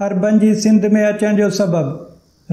عربن جي سنڌ ۾ اچڻ جو سبب،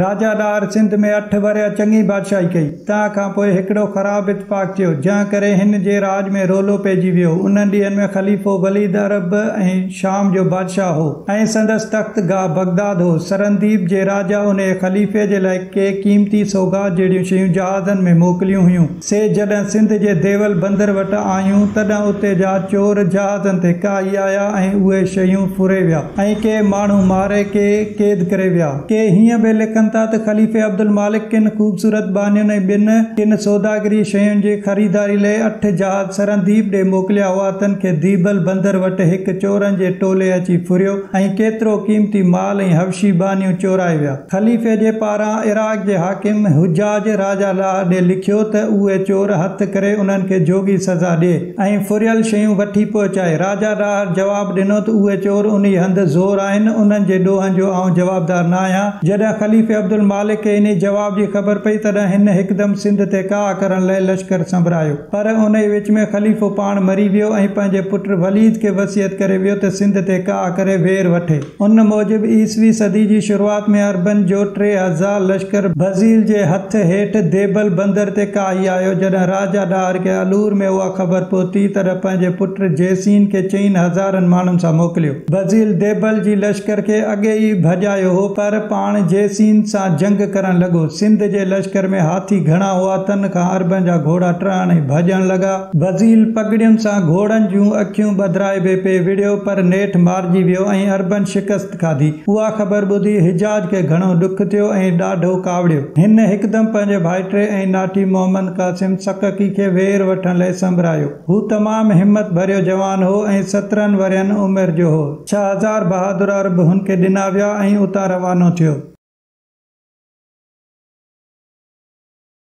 راجا ڏاهر سنڌ ۾ اٺ ورهيه چڱي بادشاهي ڪئي، تنهن کان پوء هڪڙو خراب اتفاق ٿيو، جنهن ڪري هن جي راڄ ۾ رولو پئجي ويو، انهن ڏينهن ۾ خليفو وليد عرب ۽ شام جو بادشاهه هو ۽ سندس تخت گاهه بغداد هو، سرنديپ جي راجا انهيء خليفي جي لاء ڪي قيمتي سوغات جهڙيون شيون جهازن ۾ موڪليون هيون. سي جڏهن سنڌ جي ديول بندر وٽ آيون، تڏهن اتي جا چور جهازن تي ڪاهي آيا ۽ اهي شيون ڦري ويا ۽ ڪي ماڻهو ماري ڪي قيد ڪري ويا. ڪي هيئن به لکن ٿا ته خليفي عبدالمالڪ ڪن خوبصورت ٻانهين ۽ ٻين ڪن سوداگري شين جي خريداري لئه اٺ جهاز سرنديپ ڏي موڪليا هئا تن کي ديبل بندر وٽ هڪ چورن جي ٽولي اچي ڦريو ۽ ڪيترو قيمتي مال ۽ حبشي ٻانهيون چورائي ويا. خليفي جي پاران عراق جي حاڪم حجاج راجه لاء ڏي لکيو ته اهي چور هٿ ڪري انهن کي جوڳي سزا ڏي ۽ ڦريل شيون وٺي پهچائي. راجه ڏاهر جواب ڏنو ته اهي چور انهي هنڌ زور آهن انهن جي ڏوهن جو آئون جوابدار نه آهيان. جڏهن خليفي عبدالمالڪ کي انهي جواب جي خبر پئي تڏهن هن هڪدم سنڌ تي ڪاهه ڪرڻ لاء لشڪر سنبرايو پر انهي وچ ۾ خليفو پاڻ مري ويو ۽ پنهنجي پٽ وليد کي وصيت ڪري ويو ته سنڌ تي ڪاهه ڪري وير وٺي. ان موجب عيسوي صدي جي شروعات ۾ عربن جو ٽي هزار لشڪر بزيل جي هٿ هيٺ ديبل بندر تي ڪاهي آيو. جڏهن راجا ڏاهر کي الور ۾ اها خبر پهتي، تڏهن پنهنجي پٽ جيسين کي چئين هزارن ماڻهن سان موڪليو. بزيل ديبل جي لشڪر کي اڳي ئي ڀڄايو هو، پر پاڻ جيسين سان جنگ ڪرڻ لڳو. سنڌ جي لشڪر ۾ هاٿي گهڻا هئا، تن کان عربن جا گهوڙا ٽهڻ ۽ ڀڄڻ لڳا. بزيل پڳڙين سان گهوڙن جون اکيون ٻڌرائبي پئي وڙهيو پر نيٺ مارجي ويو ۽ عربن شڪست کاڌي. اها خبر ٻڌي حجاج کي گهڻو ڏک ٿيو ۽ ڏاڍو ڪاوڙيو. هن هڪدم پنهنجي ڀائٽي ۽ ناٺي محمد قاسم سڪڪي کي وير وٺڻ لئه سنبرايو. هو تمام همت ڀريو جوان هو ۽ سترهن ورهين عمر جو هو. ڇهه هزار بهادر عرب هن کي ڏنا ويا ۽ اتان روانو ٿيو.